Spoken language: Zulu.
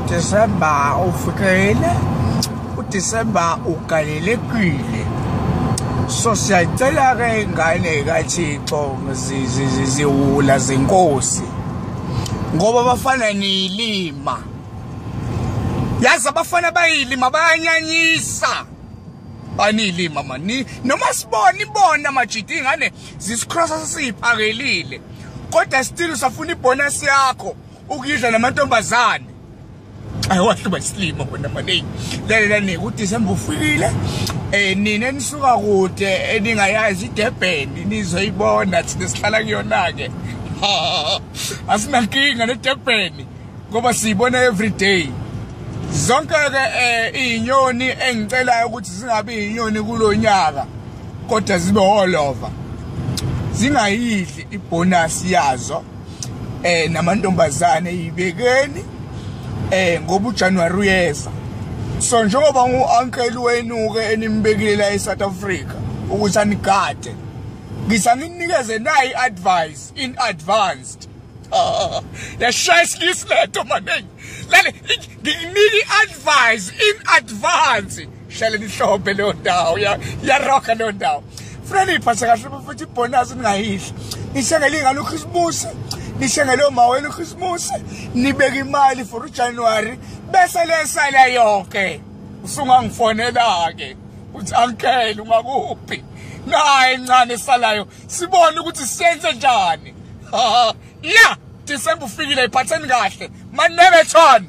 udisemba ufikile udisemba ugalelekile so siyacela-ke ingane kathixo ziwula zenkosi ngoba bafana niyilima yazi abafana bayilima bayanyanyisa baniyilima mani noma sibona ibona majidi ingane zisikrosa sesiyiphakelile kodwa still usafuna ibonus yakho ukuyidla namantombazane ayewahluba isilimo kona manje lalela nike uDecember ufikile eh nina enisuka kude eningayazi iDurban nizoyibona thina sihlala kuyona ke asinankinga neDurban ngoba siyibona every day zonke ke eh, izinyoni engicelayo ukuthi zingabi izinyoni kulonyaka kodwa zibe holova zingayidli ibonus yazo eh namantombazane yibekeni eh ngoba uJanuary uyeza so njengoba uuncle wenu ke enimbekile la eSouth Africa ukuthi anigade ngisaninike ze nayi advice in advanced Ah, yashaya isilisa lento maningi lale ngikunike i-advise in advance hlale nihlombe leyo ndawo yaroga leyo ndawo funa niyiphathe kahle futhi ibhonasi ningayidli nishengele ingane ukhisimusi nishengele omawenu ukhisimusi nibeke imali for ujanuwari bese lesale yonke usungangifonela-ke uthi ankele ungakuphi naye ncane esalayo sibone ukuthi senze njani ya December ufikile iphatheni kahle manebethon